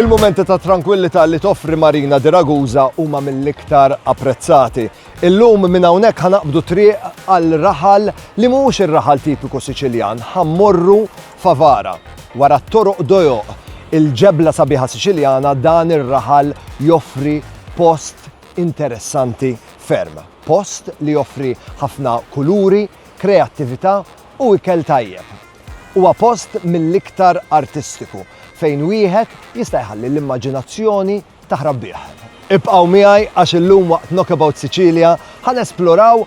Il-momenti ta' tranquillità li toffri Marina di Ragusa huma mill-iktar apprezzati. Illum minn hawnhekk ħanaqbdu triq għal raħal li mhux ir-raħal tipiku Siċiljan, ħammorru Favara. Wara t-toroq dojoq, il-ġebla sabiħa Siċiljana dan ir-raħal joffri post interessanti ferm. Post li joffri ħafna kuluri, kreattività u ikel tajjeb. Huwa post mill-iktar artistiku fejn wieħed jista' jħalli l-immaġinazzjoni taħrab bih. Ibqgħu miegħi għax illum waqt Knockabout Sicilia ħa nesploraw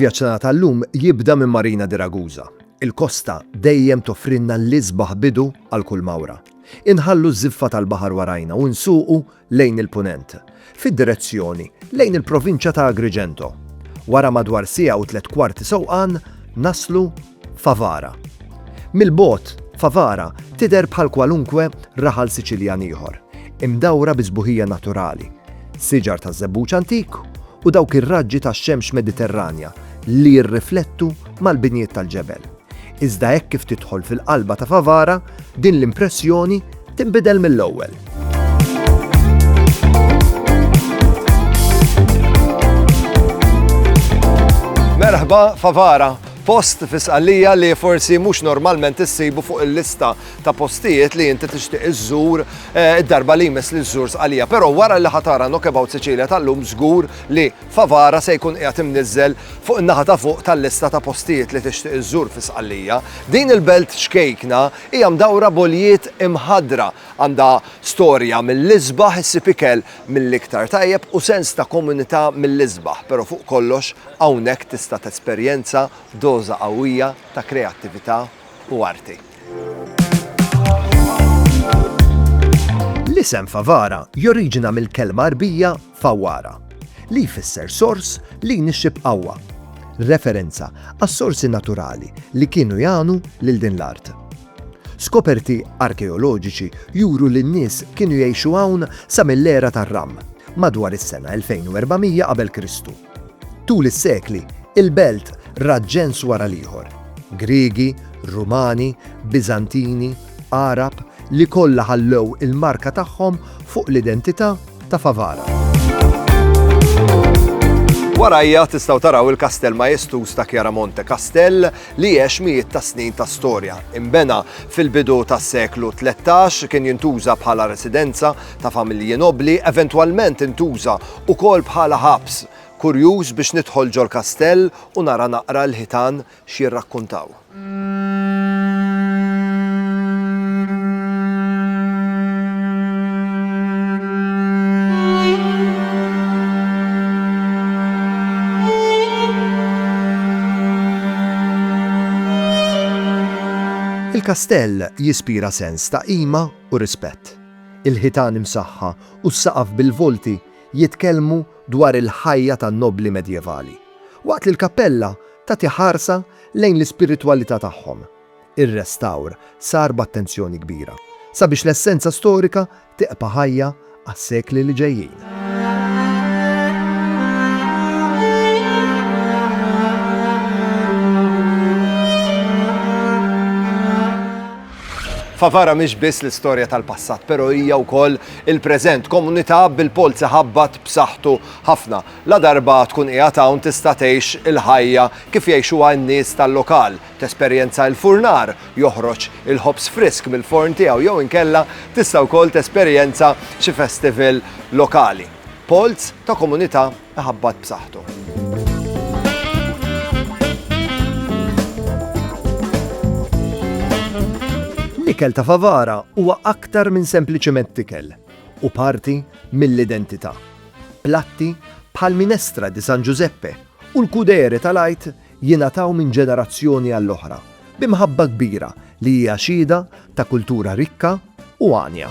Il-vjaġġ tagħna tal-lum jibda minn Marina di Ragusa. Il-kosta dejjem toffrinna l-isbaħ bidu għal kull mawra. Inħallu ż-żiffa tal-baħar warajna u nsuqu lejn il-punent, fid-direzzjoni lejn il-provinċja ta' Agrigento. Wara madwar siegħa u tliet kwarti sewqan naslu Favara. Mill-bogħod, Favara tidher bħal kwalunkwe raħal Siċiljan ieħor, imdawra bi sbuħija naturali, siġar taż-żebbuġ antik u dawk ir-raġġi tax-xemx Mediterranja li jirriflettu mal-binjiet tal-ġebel. Iżda hekk kif tidħol fil-qalba ta' Favara, din l-impressjoni tinbidel mill-ewwel. Merħba Favara, Post fi Sqallija li forsi mhux normalment issibu fuq il-lista ta' postijiet li inti tixtieq iżżur eh, id-darba li jmiss li żżur Sqalija. Però wara li ħatara Knockabout Sicilia tal-lum żgur li Favara se jkun qiegħed imniżżel fuq in-naħa ta' fuq tal-lista ta' postijiet li tixtieq iżżur fi Sqallija. Din il-belt ċkejkna hija mdawra b'għoljiet imħaddra, għandha storja mill-isbaħ issib ikel mill-iktar tajjeb u sens ta' komunità mill-isbaħ, però fuq kollox hawnhekk tista' tesperjenza doża qawwija ta' kreattività u arti. L-isem Favara joriġina mill-kelma Għarbija fawwara, li jfisser sors li jnixxi b'qawwa, referenza għas-sorsi naturali li kienu jagħnu lil din l-art. Skoperti arkeoloġiċi juru li n-nies kienu jgħixu hawn sa mill-era tar-Ram, madwar is-sena 2400 qabel Kristu. Tul is-sekli, il-belt rat ġens wara l-ieħor, Griegi, Rumani, Biżantini, Għarab, li kollha ħallew il-marka tagħhom fuq l-identità ta' Favara. Warajja tistgħu taraw il-kastell majestuż ta' Chiaramonte, kastell li għex mijiet ta' snin ta' storja. Inbena fil-bidu tas-seklu 13, kien jintuża bħala residenza ta' familji nobbli, eventwalment intuża wkoll bħala ħabs. Kurjuż biex nidħol ġol-kastell u nara naqra l-ħitan x'jirrakkuntaw. Il-kastell jispira sens ta' qima u rispett. Il-ħitan imsaħħa u s-saqaf bil-volti jitkellmu dwar il-ħajja tan-nobbli Medjevali, waqt li l-kappella tagħti ħarsa lejn l-ispiritwalità tagħhom. ir-restawr sar b'attenzjoni kbira sabiex l-essenza storika tibqa' ħajja għas-sekli li ġejjin. Favara mhix biss l-istorja tal-passat, però hija wkoll il-preżent, komunità bil-polz iħabbat b'saħħtu ħafna. La darba tkun qiegħed hawn tista' tgħix il-ħajja kif jgħixuha n-nies tal-lokal, Tesperjenza il-furnar joħroġ il-ħobż frisk mill-forn tiegħu jew inkella tista' wkoll tesperjenza xi festival lokali. Polz ta' komunità iħabbat b'saħħtu. L-ikel ta' Favara huwa aktar minn sempliċement ikel u parti mill-identità. Platti bħal minestra di San Giuseppe u l-kudere tal-għid jingħataw minn ġenerazzjoni għall-oħra bi mħabba kbira li hija xhieda ta' kultura rikka u għanja.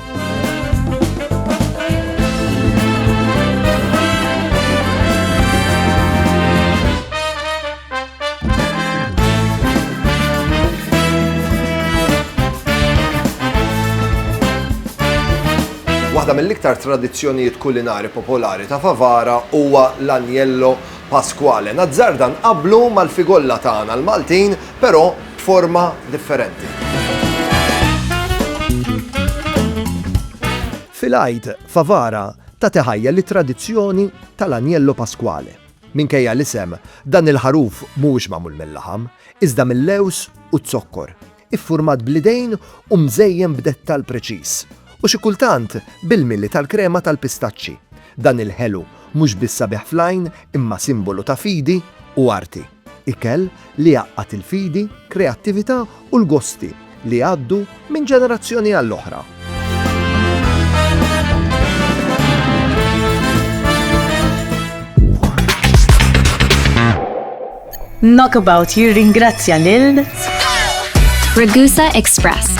Waħda mill-iktar tradizzjonijiet kulinari popolari ta' Favara huwa l-anjello Pasquale Nazzarda nqabblu mal-figolla tagħna l-Maltin però b'forma differenti. Fil-Għid, Favara tat iħajja lit-tradizzjoni tal-Agnello Pasquale. Minkejja l-isem, dan il-ħaruf mhuwiex magħmul mil-laħam, iżda mil-lewż u z-zokkor. iffurmat bl-idejn u mżejjen b'dettall preċiż, u xi kultant bil-mili tal-krema tal-pistaċċi. Dan il-ħelu mhux biss sabiħ fl-għajn imma simbolu ta' fidi u arti. Ikel li jgħaqqad il-fidi, kreattività u l-gosti li jgħaddu minn ġenerazzjoni għall-oħra. Knockabout jirringrazzja lil Ragusa Express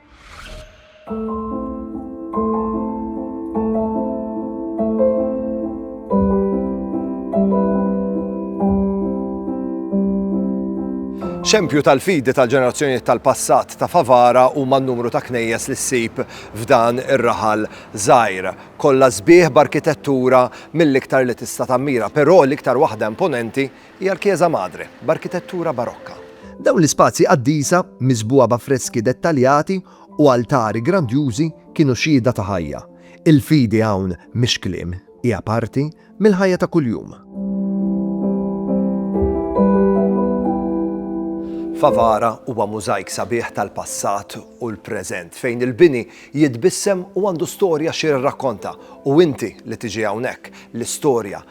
Xempju tal-fidi tal-ġenerazzjonijiet tal-passat ta' Favara huma n-numru ta' knejjes li ssib f'dan ir-raħal żgħir. Kollha sbieħ b'arkitettura mill-iktar li tista' tammira, però l-iktar waħda imponenti Hija l-Chiesa Madre, b'arkitettura Barokka. Dawn l-ispazji qaddisa, miżbugħa b'affreski dettaljati u altari grandjużi, kienu xhieda ta' ħajja. Il-fidi hawn mhix kliem, hija parti mill-ħajja ta' kuljum. Favara huwa mużajk sabiħ tal-passat u l-preżent, fejn il-bini jitbissem u għandu storja xi jirrakkonta, u inti li tiġi hawnhekk, l-istorja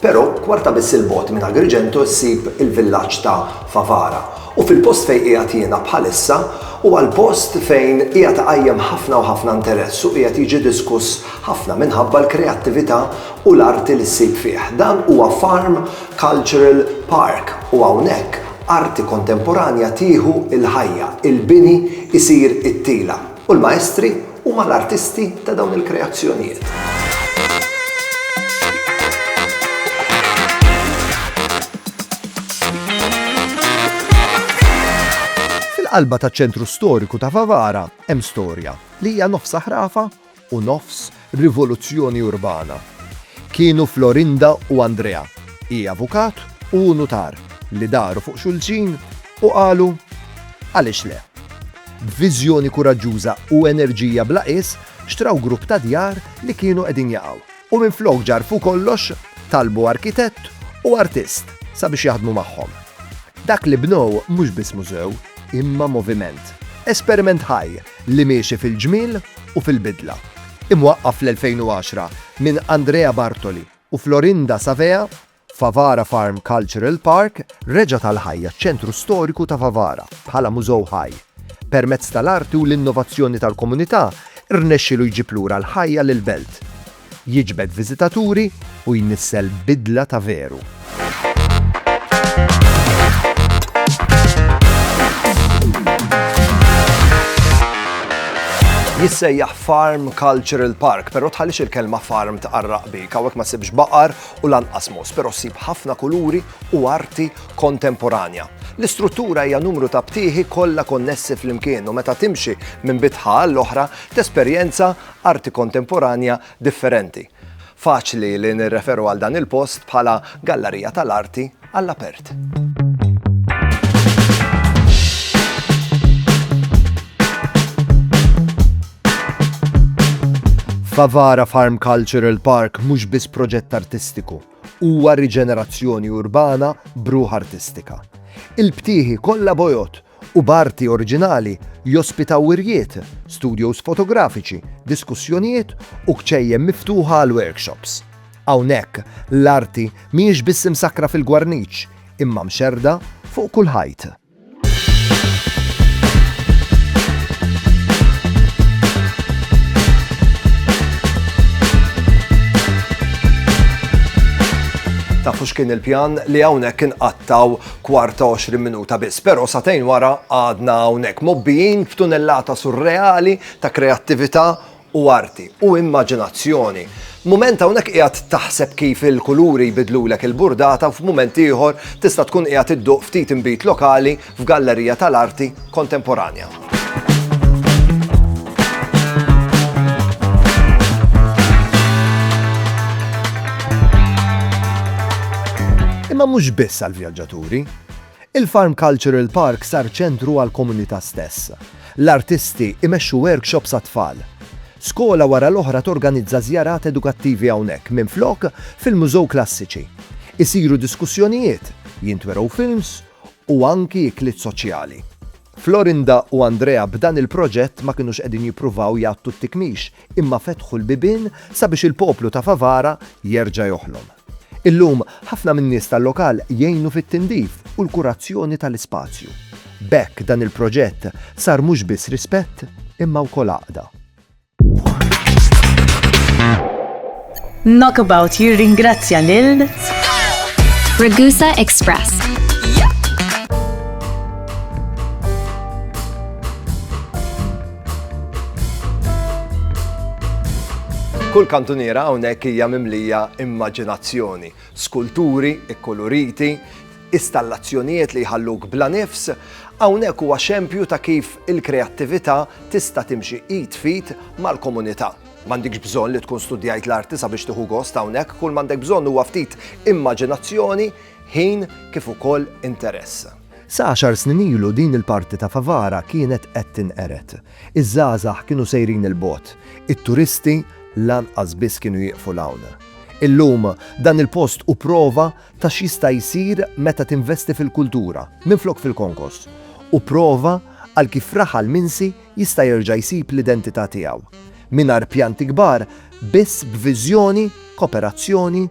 Però, kwarta biss 'il bogħod minn Agrigento ssib il-villaġġ ta' Favara, u fil-post fejn qiegħed jiena bħalissa huwa l-post fejn qiegħed iqajjem ħafna u ħafna interess u qiegħed jiġi diskuss ħafna minħabba l-kreattività u l-arti li ssib fih. Dan huwa Farm Cultural Park u hawnhekk arti kontemporanja tieħu l-ħajja, il-bini jsir it-tila. U l-maestri huma l-artisti ta' dawn il-kreazzjonijiet. Fil-qalba taċ-ċentru storiku ta' Favara hemm storja li hija nofs ħrafa u nofs rivoluzzjoni urbana kienu Florinda u Andrea, hi avukat u hu nutar, li daru fuq xulxin u qalu, Għaliex le? B'viżjoni kuraġġuża u enerġija bla qies xtraw grupp ta' djar li kienu qegħdin jaqgħu u minflok ġarrfu kollox, talbu arkitett u artist sabiex jaħdmu magħhom. Dak li bnew mhux biss mużew, imma moviment, esperiment ħaj! li miexi fil-ġmiel u fil-bidla. Imwaqqaf fl-2010 minn Andrea Bartoli u Florinda Savea, Favara Farm Cultural Park reġgħet għall-ħajja ċ-ċentru storiku ta' Favara bħala mużew ħaj. Permezz tal-arti u l-innovazzjoni tal-komunità, rnexxielu jġib lura l-ħajja lill-belt. jiġbed viżitaturi u jnissel bidla ta' veru. Jissejjaħ Farm Cultural Park, pero tħallix il-kelma farm tqarraq bik, hawnhekk ma sibx baqar u lanqas mos, pero sib ħafna kuluri u arti kontemporanja. L-istruttura hija numru ta' btieħi kollha konnessi fl-imkien u meta timxi minn bitħa l-oħra tesperjenza arti kontemporanja differenti. Faċli li nirreferu għal dan il-post bħala gallarija tal-arti għall-apert. Favara Farm Cultural Park mhux biss proġett artistiku, huwa riġenerazzjoni urbana bruħ artistika. Il-btieħi kollha bojot u b'arti oriġinali jospitaw wirjiet, studjos fotografiċi, diskussjonijiet u kċejjen miftuħa għal workshops. Hawnhekk, l-arti mhijiex biss imsakkra fil-gwarniċ, imma mxerrda fuq kull ħajt. Tafu x'kien il-pjan li hawnhekk inqattgħu kwarta u għoxrin minuta biss, però satejn wara għadna hawnhekk mobbijin f'tunellata surreali ta' kreattività u arti u immaġinazzjoni. Mument hawnhekk qiegħed taħseb kif il-kuluri jbidlulek il-burdata u f'mument ieħor tista' tkun qiegħed idduq ftit inbid lokali f'gallerija tal-arti kontemporanja. Imma mhux biss għall-vjaġġaturi. Il-Farm Cultural Park sar ċentru għall-komunità stess. L-artisti imexxu workshops għat-tfal. Skola wara l-oħra torganizza żjarat edukattivi hawnhekk minflok fil-mużew klassiċi. Isiru diskussjonijiet, jintwerew films u anki ikliet soċjali. Florinda u Andrea b'dan il-proġett ma kinux qegħdin jippruvaw jgħattu t-tikmix imma fetħu l-bibien sabiex il-poplu ta' Favara jerġa' joħlom. Illum ħafna min-nies tal-lokal jgħinu fit-tindif u l-kurazzjoni tal-ispazju. B'hekk dan il-proġett sar mhux biss rispett imma wkoll għaqda. Knockabout jirringrazzja lil Ragusa Express. Kull kantuniera hawnhekk hija mimlija immaġinazzjoni, skulturi, ikkoloriti, Istallazzjonijiet li jħalluk bla nifs, hawnhekk huwa xempju ta' kif il-kreattività tista' timxi id f'id mal-komunità. M'għandikx bżonn li tkun studjajt l-arti sabiex tieħu gost hawnhekk, kull m'għandek bżonn huwa ftit immaġinazzjoni, ħin kif ukoll interess. Sa għaxar snin ilu din il-parti ta' Favara kienet qed tinqered. Iż-żgħażagħ kienu sejrin 'il bogħod, it-turisti lanqas biss kienu jieqfu 'l hawn. Illum, dan il-post hu prova ta' x'jista' jsir meta tinvesti fil-kultura minflok fil-konkos, u prova għal kif raħal minsi jista' jerġa' jsib l-identità tiegħu, mingħajr pjanti kbar, biss b'viżjoni, koperazzjoni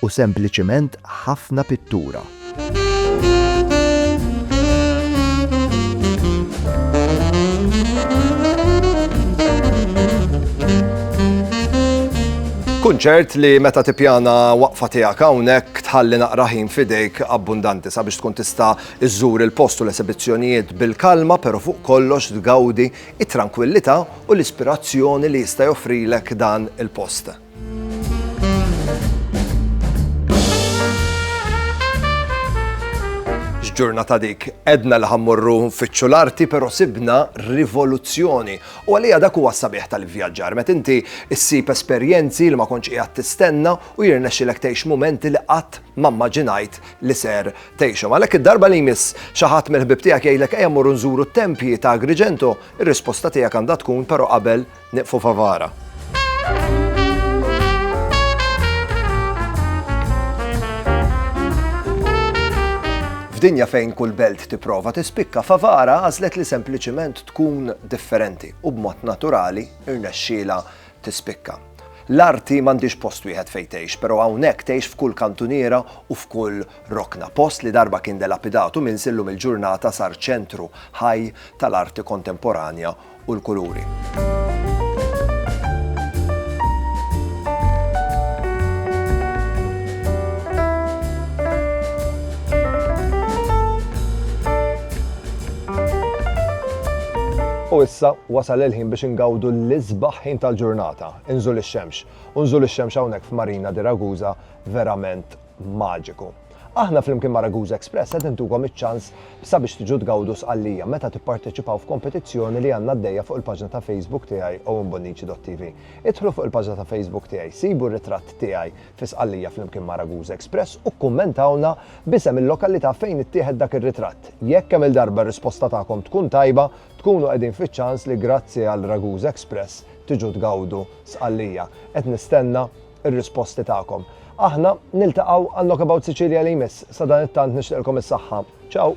u sempliċiment ħafna pittura. Kun ċert li meta tippjana waqfa tiegħek hawnhekk tħalli naqra ħin f'idejk abbundanti sabiex tkun tista' żżur il-post u l-esibizzjonijiet bil-kalma pero fuq kollox tgawdi it-trankwillità u l-ispirazzjoni li jista' joffrilek dan il-post. X'ġurnata dik! Għedna li ħa mmorru nfittxu l-arti pero sibna rivoluzzjoni U għalija dak huwa s-sabiħ tal-ivvjaġġar, meta inti ssib esperjenzi li ma kontx qiegħed tistenna u jirnexxilek tgħix mumenti li qatt ma mmaġinajt li ser tgħixhom. Għalhekk id-darba li jmiss xi ħadd mill-ħbieb tiegħek jgħidlek ejja mmorru nżuru t-tempji ta' Agrigento, ir-risposta tiegħek għandha tkun però qabel nieqfu Favara. F'dinja fejn kull belt tipprova tispikka, Favara għażlet li sempliċiment tkun differenti u b'mod naturali rnexxielha tispikka. L-arti m'għandhiex post wieħed fejn tgħix, però hawnhekk tgħix f'kull kantuniera u f'kull rokna. Post li darba kien delapidat u minsi llum il-ġurnata sar ċentru ħaj tal-arti kontemporanja u l-kuluri. U issa wasal il-ħin biex ingawdu l-isbaħ ħin tal-ġurnata, inżul ix-xemx. U nżul ix-xemx hawnhekk f'Marina di Ragusa verament maġiku. Aħna flimkien ma' Ragusa Express qed intukom iċ-ċans sabiex tiġu tgawdu Sqallija meta tipparteċipaw f'kompetizzjoni li għandna għaddejja fuq il-paġna ta' Facebook tiegħi OwenBonnici.tv. Idħlu fuq il-paġna ta' Facebook tiegħi, sibu r-ritratt tiegħi fi Sqallija flimkien ma' Ragusa Express u kkummentawlna b'isem il-lokalità fejn ittieħed dak ir-ritratt. Jekk kemm-il darba r-risposta tagħkom tkun tajba, tkunu qegħdin fiċ-ċans li grazzi għal Ragusa Express tiġu tgawdu Sqallija. Qed nistenna r-risposti tagħkom. Aħna niltaqgħu għal Knockabout Sicilia li jmiss. Sadanittant nixtieqilkom is-saħħa. Ciao!